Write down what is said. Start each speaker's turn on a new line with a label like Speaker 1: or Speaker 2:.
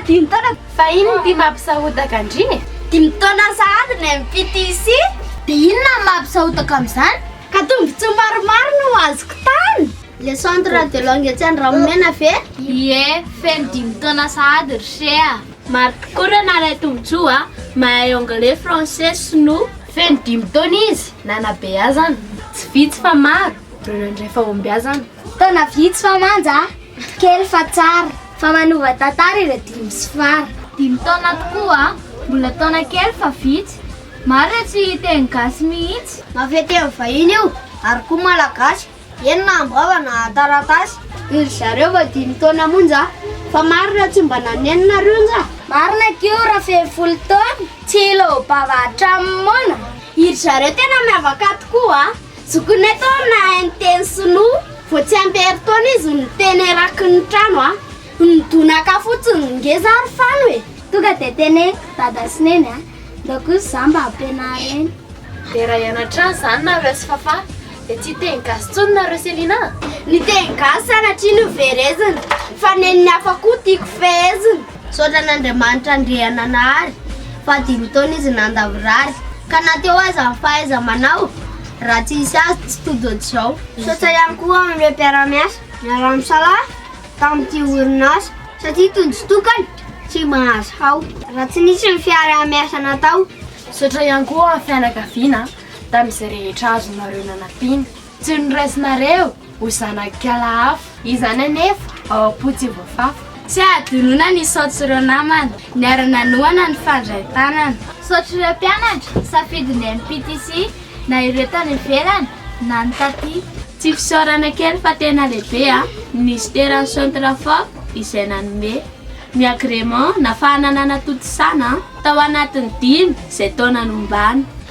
Speaker 1: dimy taona fa inona ty
Speaker 2: mampisahotaka andriny dimy taona
Speaker 1: sahady ny MPTC dia inona
Speaker 3: mampisahotaka amin'izany ka tombontsoa
Speaker 1: maromaro no azoko tany Le centre radiologue etsy Andranomena ve? Ie, feno
Speaker 3: dimy taona sahady ry se a! Maro tokoa ireo
Speaker 2: naharay tombontsoa a! Mahay anglais, français, sinoa. Feno dimy taona izy nanabeazana. Tsy vitsy fa maro ireo nandray fahombiazana. Taona vitsy fa
Speaker 3: manja a! Kely fa tsara. Fa manova tantara ireo dimy sy fara. Dimy taona tokoa a! Mbola taona kely fa vitsy. Maro ireo tsy hiteny gasy mihitsy. Mafy atrehin'ny vahiny
Speaker 1: io ary koa malagasy. Enina amby rahona taratasy noho ry zareo vao dimy taona monja fa marina tsy mba nanenina ry onja? Marina ko
Speaker 3: raha feno folo taona tsy hilom-bava hatramin'ny moana. I ry zareo
Speaker 1: tena miavaka tokoa a! Zokinay tao no nahay niteny sinoa vao tsy ampy herintaona izy no niteny eraky ny trano a! Nidonaka fotsiny ny ngeza ary fano e! Tonga dia teny
Speaker 3: dada sy neny a! Ndao kosa za mba ampianariny. Dera
Speaker 2: hianatra any zany nareo sy fafah. Dia tsy hiteny gasy intsony nareo Selina a! Ny teny
Speaker 1: gasy sanatria noverezina, fa nen'ny hafa koa tiako fehezina. Misaotra an'Andriamanitra Andriananahary, fa dimy taona izy nandavorary, ka na teo aza ny fahaiza-manao, raha tsy hisy azy tsy tojo hatrizao. Misaotra ihany koa amin'ireo mpiara-miasa niaraha-misalahy tamin'ity orinasa, satria tojo tokana tsy mahazo hao, raha tsy nisy ny fiaraha-miasa natao. Misaotra ihany koa
Speaker 2: amin'ny fianakaviana tamin'izay rehetra azonareo nanampiana. Tsy noraisinareo ho zanak'ala hafa. Izany anefa ao am-po tsy voafafa. Tsy ahadinoina
Speaker 3: ny saots'ireo namana. Niara-nanohana ny fandray tanana. Saotr'ireo mpianatra, safidy ny MPTC, na ireo tany ivelany, na ny taty. Tsy fisaorana
Speaker 2: kely fa tena lehibe an! Minisiteran'ny Centrafort izay nanome. Ny agrément nafahana nanatontosana an! Tao anatin'ny dimy izay taona nombana.